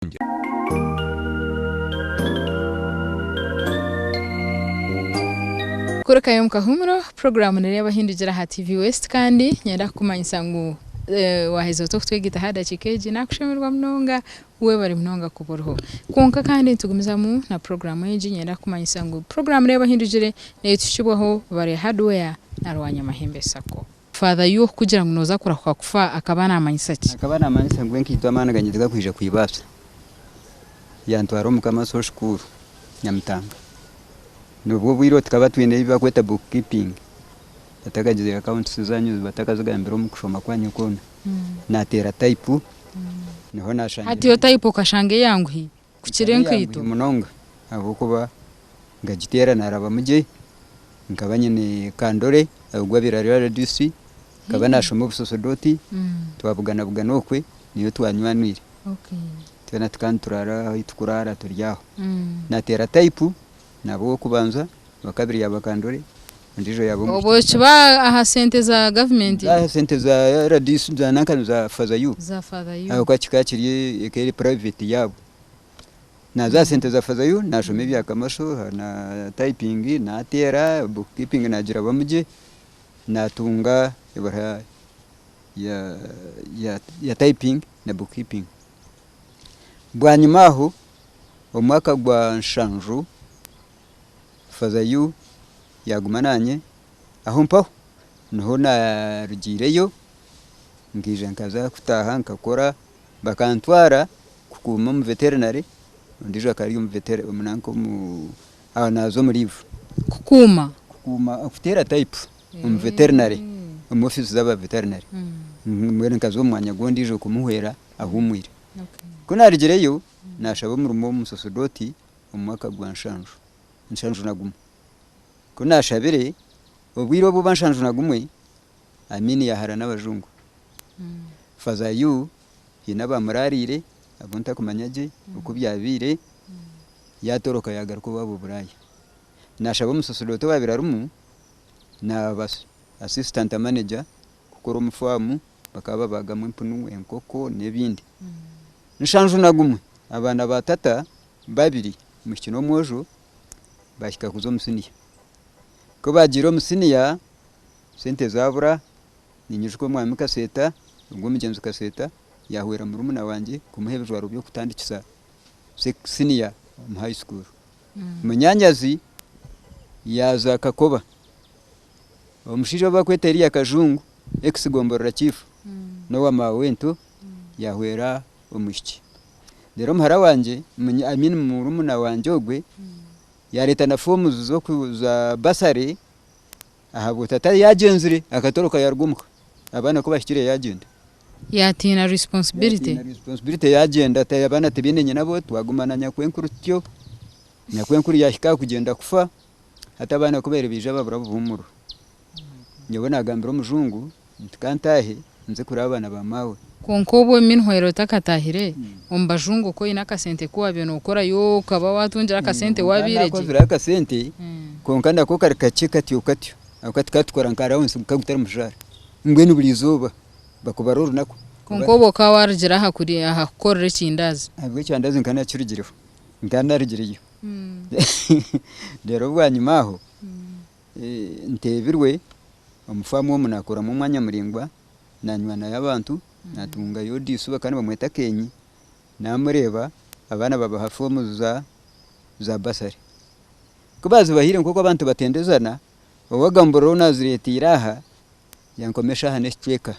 Kayanja. Kurukayo omu kahuumuro, puroguraamu nireeba Ohindugira aha TV West kandi nyenda kukumanyisa ngu waaheza ota okutwegaita aha dakiika egi, naakushemererwa munonga. Webare munonga kuba oriho. Kwonka kandi nitugumizamu na puroguraamu egi, nyenda kukumanyisa ngu puroguraamu reeba Ohindugire neetuhikiibwaho Barya Hardware na Rwanyamahembe Sacco. Father Yuoh kugira ngu noza kurahuka kufa akaba namanyisa ki? Akaba namanyisa ngu enkaito amaani ganye tigakwija kwibaasa. Yantwara omu Kama Soul School Nyamitanga. Nobwo obwire obu tukaba twine ebi bakweta book keeping. Batakagize accounts zanyu batakazigambire omu kushoma kwanyu kwona. Nateera type niho nashangire. Hati yo type okashanga eyanguhi? kukira enkaito. munonga ahabw'okuba nkagiteera naarabamu gye, nkaba nyine kandore ogwa Biraaro RDC, nkaba naashoma obusosodooti, twabuganabugana okwe niyo twanywanwire, twena tuka nituraara ahi tukuraara turi aho, nateera taipu, naaba ow'okubanza, owakabiri yaaba kandore. Obwokiba aha sente za gavumenti. Aha sente za rdc za nanka niza father you ahabwokuba kikaba kiri eka eri private yaabo. Naza aha sente za father you nashoma ebya kamaso na typing nateera book keeping nagirabamu gye natunga ebaruha ya typing na book keeping. Bwanyima aho omwaka gwa nshanju. Father Yu yaguma naanye aho mpaho niho narugiireyo nkaija nkaza kutaaha nkakora bakantwara kukuuma omu veterinary ondiijo akaba ari omu veterinary nanka omu aho naaza omu leave. Kukuuma? Kukuuma kuteera type omu veterinary omu office zaba veterinary mbwenu nkaza omu mwanya gwondiijo kumuhwera ahuumwire. Ku naarugireyo nashaba omurimo omu musosodooti. omu mwaka gwa nshanju nshanju na gumwe. Ku naashabire, obwire obu buba nshanju na gumwe, Amin yaahara n'abajungu. Faaza Yu haine abaamuraariire abu ntakumanya gye oku byabaire, yaatoroka yaagaruka owaabo Buraaya. Naashaba omusosodooti owaabaire arimu naaba Assistant Manager kukora omu faamu, bakaba babaagamu empunu, enkoko n'ebindi. Nshanju na gumwe, abaana ba tata babiri omwishiki n'omwojo bahika kuza omu siniya ku baagiire omu siniya sente zaabura ninyijuka omwami kaseeta nari omugyenzi kaseeta yaahwera murumuna wangye kumuha ebijwaro by'okutandikisa siniya omu high school munyaanyazi yaaza kakoba omushaija ou barikweta Eria kajungu ex gomborora chief n'owa maawe wento yahwera omwishiki reero muhara wangye I mean murumuna wangye ogwe yareeta na forms za bursary ahabwa tata we yagyenzire akatoroka yaruga omuka abaana ku bahikire yagyenda Yatiina responsibility. yatiina responsibility yagyenda ati abaana tibaine nyina bo twaguma na nyakwenkuru tutyo nyakwenkuru yahika aha kugyenda kufa. hati abaana kubaire baija babura obuhumuro nyowe nagambira omujungu nti kantaahe nze kureba abaana ba maawe. Kwonka obwe minhwera otakataahire omu bajungu okwo oine akasente kuwabiire nokorayo okaba watungire akasente wabiire gye? Nakozireho akasente kwonka nako kari kakye katyo katyo ahabw'okuba tukaba tukora nka rounds nka gutari mushara mbwenu buri izooba bakubara orunaku. Kwonka obwe okaba warugire aha kukorera ekindaazi? Ahabw'ekyandazi nkaba nakirugireho nkaba narugireyo. reero bwanyima aho nteebirwe omu faamu omu nakoramu omwanya muraingwa nanywaanayo abantu natungayo odiijo eizooba kandi bamweta Keenyi namureeba abaana babaha foomu za bursary kubazibahaire nkoku abantu batendezana owagamburira ou nazireteire aha yankoma eshaaha nekicweeka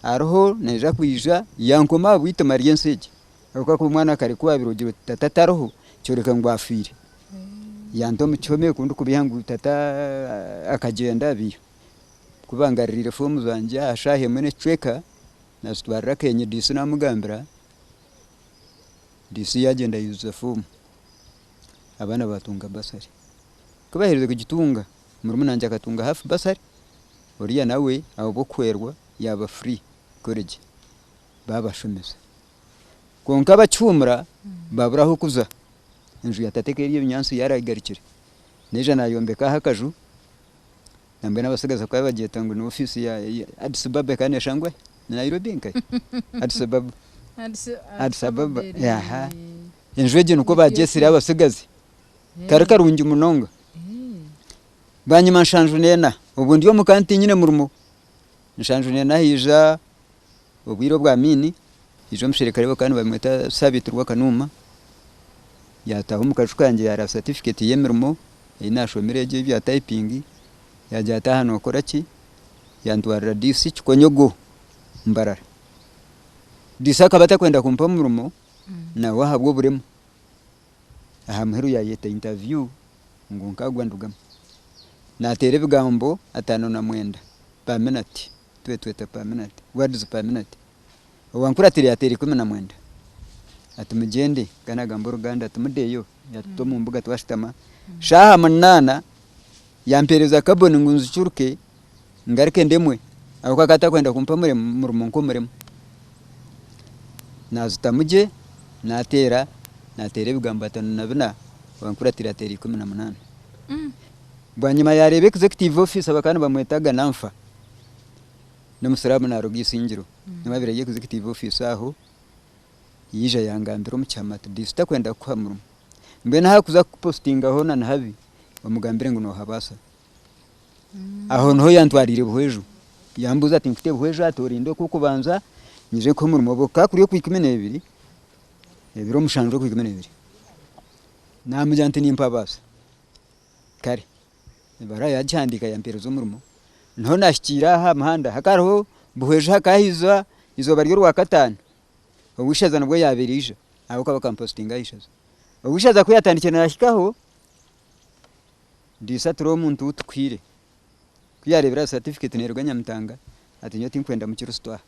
hariho naija kwiija yankoma aha bweitooma ry'ensi egi. Kwonka ku omwana kare ku waabire ogira oti tata tariho, kyoreka ngu afiire. Ya nta omu kihome ku ndikubeiha ngu tata akagyenda abiiha. Ku bangaririire foomu zangye aha shaaha emwe n'ekicweka, naazitwarira Keenyi DC naamugambira, DC yaagyenda yaijuza foomu, abaana baatunga bursary. Ku baaherize kugitunga, murumuna wangye akatunga half bursary, oriya nawe ahabw'okuhwerwa yaaba free kwega. babashomesa kwonka abakihuumura babura ah'okuza, enju ya tata ekaba eri ebinyaatsi yaragigarukire naija nayombeka aho akaju nambwenu abatsigazi bakaba nibagyeta ngu ni office ya Addis Baba ekaba neshusha ngu ni Nairobi nkahi Addis Baba Addis Ababa aha enju egyo nikwo bagyetsire abatsigazi kari karungi munonga bwanyima nshanjwa nena obwo ndi omuka tinyine murimo Nshanju neena haija obwire obwa maini, haija omusherekare we kandi nibamweta Sabiti Rwakanuuma, yaataaha omu kaju kangye yaara satifiketi y'emirimo ei naashomire egyo eya taipingi, yaagira ati, aha nookora ki? Yantwarira DC Kikonyogo, Mbarara. DC akaba atakwenda kumpa murimo nawe ahabw'oburemu. aha muheru yaayeta interview ngu nkaagwa ndugamu. Naateera ebigambo ataano na mwenda, Paminat, twetweta Paminat, words Paminat. Owankuratira yaateera ikumi na mwenda ati mugyende, ka naagamba oruganda ati mudeeyo, yaatuta omu mbuga twashutama. Shaaha munaana yampeereza kaboni ngu nzicuruke. ngaruke ndemwe ahabw'okuba akaba atarikwenda kumpa murimo nk'omurimo. Naazutamu gye naateera naateera ebigambo atano na bina bankuratiire ateera ikumi na munaana. Bwanyima yaareeba executive officer bakaba nibamweta Gananfa, n'omusiraamu naaruga Isingiro nyowe abeire ari executive officer aho, yaija yaangambira omu kyama ati Diisi tarikwenda kukuha murimo, mbwenu ahakuza kukupositingaho na nihabi omugambire ngu noohabaasa Aho niho yantwarire Buhweju yambuuza ati nkute Buhweju ati orenda ow'okubanza nyije nkuhe omurimo obe okukakuri okwa ikumi n'ebiri ebiro mushanju okwa ikumi n'ebiri namugira nti nimpabaasa kare ebaruha yagihandiika yampereza omurimo niho nahikiire aha muhanda hakariho Buhweju hakahiziba eizooba ry'orwakataano Ow'eishaza nibwo yabaire aija ahabw'okuba bakampositinga aha ishaza Ow'eishaza kuyatandikire nahikaho Ndiisa turi omuntu ou tukaire. Ku yaareebire aha satifiketi neeruga Nyamitanga, ati, Nyowe tinkwenda Mukiristo aha.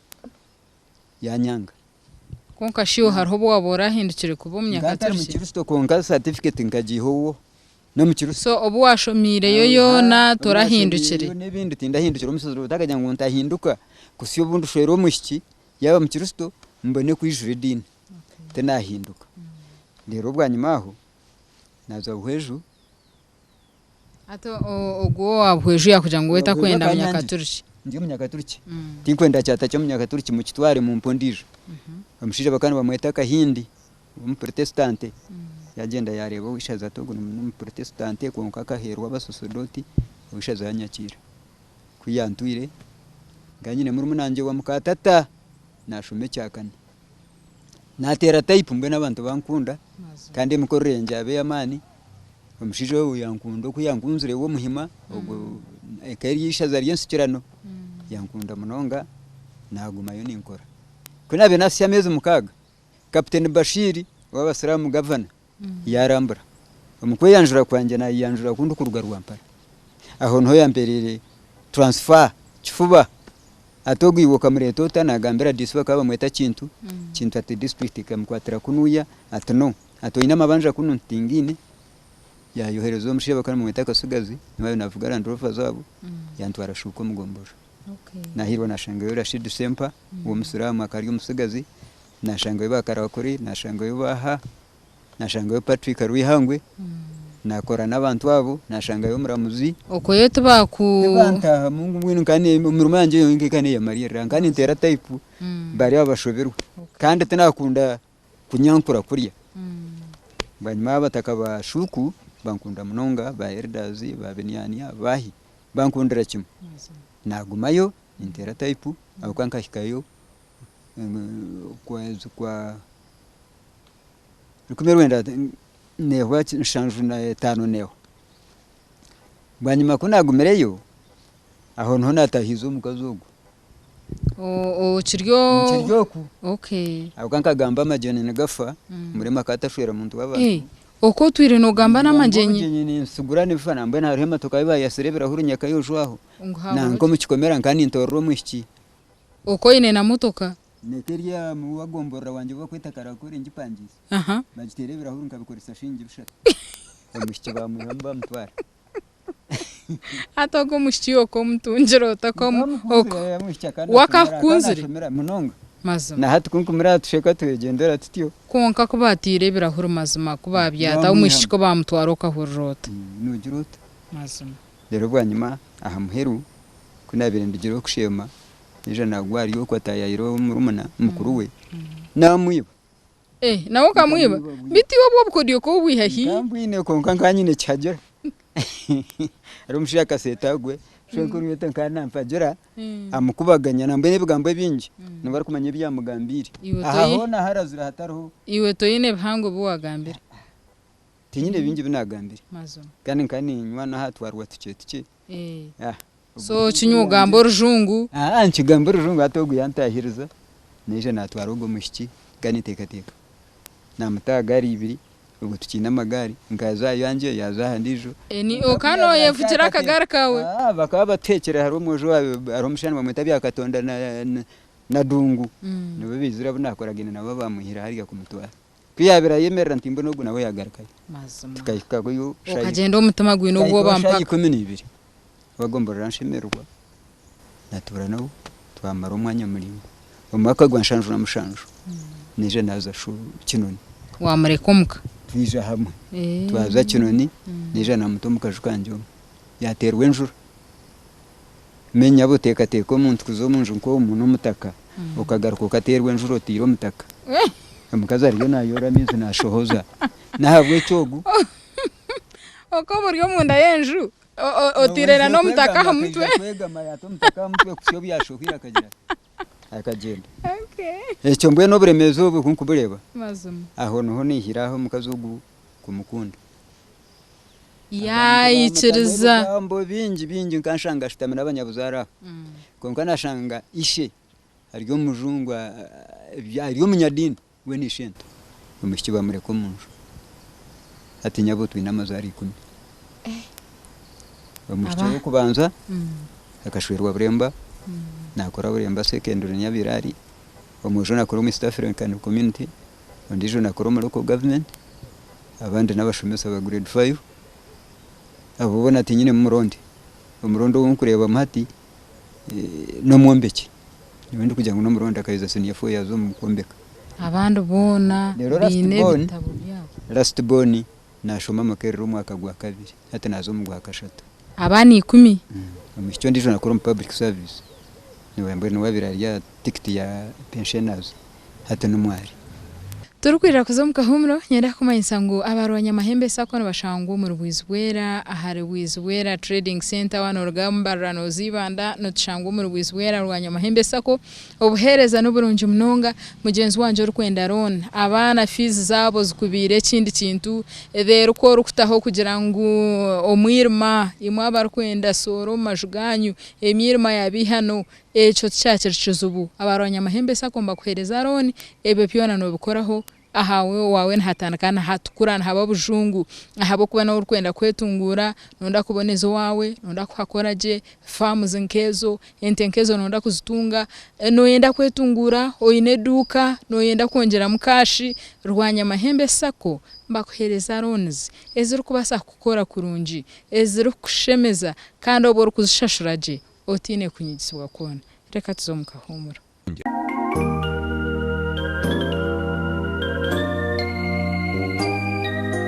Yaanyanga. Kwonka shi obu hariho obu waaba oraahindukire kuba Omunyaakaturiki? Nkaba ntari Mukiristo kwonka satifiketi nkagiiha owo n'Omukiristo. So obu waashomiireyo yoona torahindukire? N'ebindi tindahindukire. Omutsigazi ogu takagira ngu ntahinduka kutsya obu ndishwera omwishiki yaaba Mukiristo mbone kwijura ediini. Tinaahinduka. Reero bwanyima aho. naza buhweju. Hati ogwo owa buhweju yakugira ngu we takwenda munyakaturiki? Ndi omunyakaturiki, mm. tinkwenda kyata kyomunyakaturiki mukitware mumpe ondiijo. Mhm. Omushaija bakaba nibamweta Kahindi, omuprotestante, mm. yagenda yareeba ow'eishaza ati ogu nomuprotestante kwonka akaherwa abasosodoti, ow'eishaza yanyakiira. Kuyantwire, nkaba nyine murumunangye wa mukatata nashoma ekyakane. nateera tayipu mbwenu abantu bankunda kandi emikorere yangye yaba ey'amaani, omushaija ogu yankunda oku yankunzire we Omuhima ogwo eka eri eishaza ry'ensikirano yankunda munonga nagumayo ninkora. Ku naabaire naahitsya ameezi mukaaga, Kapiteeni Bashiri ow'Abasiraamu Gavana Yaarambura. Omu kweyanjura kwangye naayeyanjura ku ndikuruga Rwampara. Aho niho yampeereire transfer kifuba. Hati ogwo iwe okamureeta ota? Naagambira DC bakaba bamweta Kintu, Kintu ati disiturikiti ekamukwatira kunuuya ati no. Ati oine amabanja kunu? Nti tingaine. Yaayohereza omushaija bakaba nibamweta Katsigazi, niwe ariyo naavuga Land Rover zaabo, yantwara Shuuka omu Gombolola. Naahirwa naashangayo Rashid Sempa w'Omusiraamu akaba ari omutsigazi. nashangayo ba karakuri nashangayo ba ha nashangayo Patrick Rwihangwe nakora nabantu abo nashangayo omuramuzi okweyo tibaku tibantahamu ngu mbwenu nka ne- emirimo yangye yonka eka neyamalirira nka nintera type Mm. bari aho bashoberwe Okay. kandi tinakunda kunyankura kurya Mm. bwanyima abataka ba shuku bankunda munonga ba elders ba biniania bahi bankundira kimwe nagumayo nintera type ahabwokuba nkahikayo okwezi kwa rukumi-rwenda nehwa nshanju na etano nehwa bwanyima kunagumireyo aho niho natahize omukazi ogu okiri oku ahabwonkuba nkagamba amagyenyi nigafa murema akaba atashwera muntu wabantu oku otwire nogamba namagyenyi ninsigura nibifana mbwenu hariho emotoka ahu bayatsire ebirahuri nyakayojwaho nanka omukikomera nkaba nintorora omwishiki. Oku oine na motoka. Neka eri amu wa gomborora wangye obu bakweta Karakore ngipangiisa. Aha. Bagiteera ebirahuri nkabikoresa shingi bishatu. Omushiki baamuyihamu baamutwara. Hati ogu omushiki okamutungire ota? Wakakukunzire? Munonga. Mazima. Na hati kunkumire aha tusheka twegyendera tutyo. Kwonka ku baataire ebirahuri mazima ku baabyataho omwishiki ku baamutwara okahurira ota? Noogira ota? Mazima. Reero bwanyima aha muheru ku naabaire ndugiire okusheema, naija naagwa ahari oku ataayaire omurumuna mukuru we, naamwiba. Eeh, nawe okamwiba? Beitu obwo obukodyo ka obwiha hi? Nkambwine kwonka nkaba nyine ekihagira. Hariho omushaija akaseeta gwe, omushaija mukuru beitu nkaba nampagira amukubaganya nambwenu ebigambo ebingi ngu arikumanya ebi yaamugambiire. Aha hoona ahu arazire hatariho. Iwe toine bihango bi waagambire? Tinyine bingi bi naagambire. Kandi nkaba niinywa n'aha twaarwa tukye tukye. So okinywa ogamba orujungu? Aa, nkigamba orujungu hati ogu yaantaahiriza, naija naatwara ogwo mwishiki, nkaba ninteekateeka naamuta aha gaari ibiri, obwo tikiine amagaari, nkaza aha yangye, yaaza aha ndiijo. Ni okaba nooyevugira akagaari kaawe? Aa, bakaba batuheekire hariho omwojo wa, hariho omushaija nibamweta Byakatonda na, na, Nadungu. Nibo baizire abu naakoragaine nabo abaamuhire hariya kumutwara. Ku yaabaire ayemerera nti mbwenu ogu nawe yaagarukayo. Tukahikayo shaaha ikumi na ibiri. Twagomborora nshemererwa, naatuura nabo twamara omwanya muraingwa. Omwaka gwa nshanju na mushanju naija naaza Kinoni. Waamureka omu ka? Twija hamwe. Twaza Kinoni naija naamuta omu kaju kangye omu. Yaateerwa enjura. Menya bu teekateeka omuntu kuza omu nju nk'omu n'omutaka okagaruka okateerwa enjura otaire omutaka. Omukazi ariyo naayoora amaizi naashohoza. N'ahabw'ekyo ogu. Okaba ori omunda y'enju otaire n'omutaka aha mutwe. Owaizire kwegama yaata omutaka aha mutwe kuhitsya obu yaashohwire akagira ati. akagyenda ekyo mbwenu oburemeezi obu kunkubureeba aho niho naihire aho omukazi ogu kumukunda yaikiriza ebigambo bingi bingi nkanshanga ashutami nabanyabuzaare aho kwonka nashanga ishe ari omujungu ari omunyadiini. Mbwenu ishento omwishiki bamureka omu nju hati nyabo twine amazaari ikumi. Omwishiki Aba. ow'okubanza akashwerwa Buremba nakora Buremba Secondary Nyabiire ari, omwojo nakora omu East African Community, ondiijo nakora omu Local Government, abandi n'abashomesa ba Grade Five. Abo boona tinyinemu muronde. Omuronde ou nkureebamu hati n'omwombeki nyowe ndikugira ngu n'omurondi akayeza senior four yaaza omu kwombeka. Abandi boona Reero baine last born, ebitabo byabo. last born naashoma Makerere omwaka gwa kabiri hati naaza omu gwa kashatu. Abaana ikumi. Omwishiki ondiijo nakora omu public service, niwe mbwenu owaabaire ari aha tikiti ya pensioners. hati ni mwari. Turikwirira kuza omu kahuumuro, nyenda kukumanyisa ngu aba Rwanyamahembe Sacco nibashangwa omuri Bwizibwera ahari Bwizibwera Trading Centre. Waaba nooruga Mbarara nooza Ibanda, nootushanga omuri Bwizibwera Rwanyamahembe Sacco. Obuheereza ni burungi munonga. Mugyenzi wangye orikwenda loan, abaana fiizi zaabo zikubiire ekindi kintu, reero ku orikutaho kugira ngu omwirima, imwe abarikwenda soora omu maju gaanyu, emyirima yaaba eihano, Ekyo tikyakiri kizibu. Abarwanyi amahembe Sacco nibakuheereza looni, ebyo byona noobikoraho. Ahawe owaawe nihatandika nihatukura, nihaba bujungu ahabw'okuba nawe orikwenda kwetunguura, nooda kuboneza owaawe, nooda kuhakora gye, faamuzi nk'ezo, ente nk'ezo nooda kuzitunga, nooyenda kwetunguura, oine eduuka, nooyenda kwongyeramu kaashi, Rwanyamahembe Sacco nibakuheereza loonizi ezirikubaasa kukukora kurungi, ezirikukushemeza kandi obu orikuzishashura gye otaine kunyigisibwa kwona. Reka tuze omu kahuumuro.